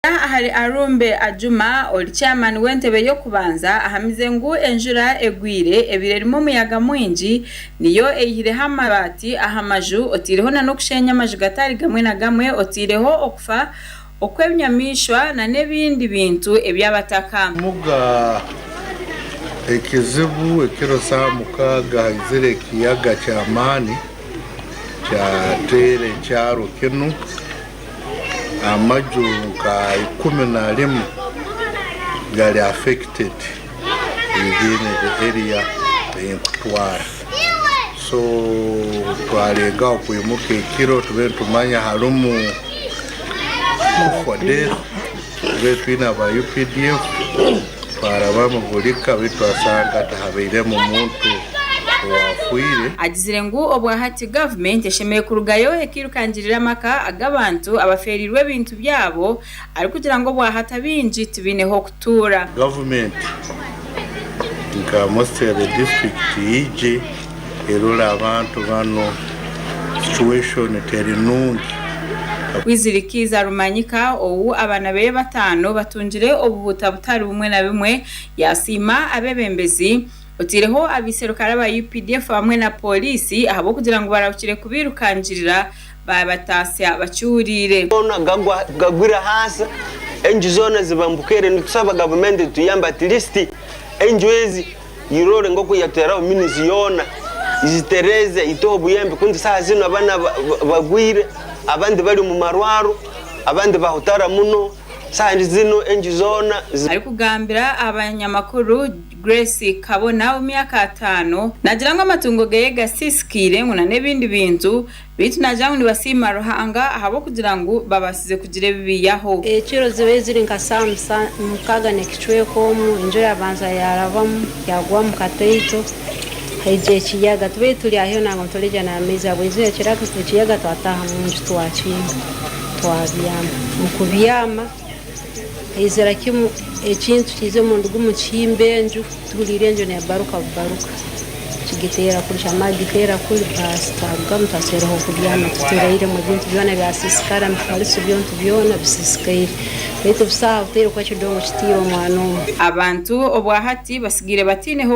Kuruga ahari Arumbe Ajuma, ori chairman w'entebe y'okubanza, ahamize ngu enjura egwire ebire erimu omuyaga mwingi niyo eihireho amabaati aha maju oteireho na n'okusheenya amaju gatari gamwe na gamwe oteireho okufa okw'ebinyamaishwa na n'ebindi bintu eby'abataka. Muga, Ekizibu ekiro saaha mukaaga haizire ekiyaga ky'amaani kyateera ekyaro kinu. amaju nka ikumi na rimwe gari affected within the area eyi nkutwara so twaregaho kwimuka ekiro tube nitumanya harimu death. Twabire twine aba updf twaraba omu buri ka beitu twasanga tihabeiremu muntu owafwire. Agizire ngu obwahati gavumenti eshemereire kurugayo ekirukangirire amaka ag'abantu abafeereirwe ebintu byabo arikugira ngu obwahati abaingi tibaine h'okutuura. Gavumenti nka Mostirale disiturikiti yaije. Irora abantu banu situation teri nungi. Kwizirikiiza Rumanyika ou abaana beye bataano batungire obuhuta butari bumwe na bimwe yasiima abebembezi oteireho abeiserukare aba updf hamwe na Poliisi ahabwokugira ngu barahukire kubeirukangirira babataasya bakihureire. Goona gagwa gagwire ahansi enju zoona ziba mbukaire nitusaba gavumenti etuyambe at least enju ezi Iroore nk'oku yateeraho minizi yoona, izitereeze, iteho obuyembe, ku nti saha zinu abana bagwire, abandi bari omu marwaro, abandi bahutara muno, saha zinu enju zoona zi. Arikugambira abanyamakuru, Grace Kabona w'emyaka ataano, nagira ngu amatungo geye gasisikiire ngu nan'ebindi bintu Beitu nagira ngu nibasiima Ruhanga ahabw'okugira ngu babasize kugira ebi biyaho. Ekiro ziba eziri nka saa mukaaga nekicweka omu, enjura yabanza yarabamu yagwa omu kataito haija ekiyaga. Tibeitu turi aho nangwa nituregya n'amaizi ahabwa enjura ekiyaga twataha munju twakinga twabyama. Omu kubyama. Eizira kimu ekintu kiize omunduga omu kihimba enju tuhuliire enju nebaruka bubaruka kigiteera kuri kyamara kugiteera kuri baasi twarugamu twateraho kubyama tutereiremu ebintu byona byasisikara emifarisi byontu byona bisisikaire baitu busaho buteire kuba ekidongo kiteire omwana omu. Abantu obwahati batsigaire bataineho.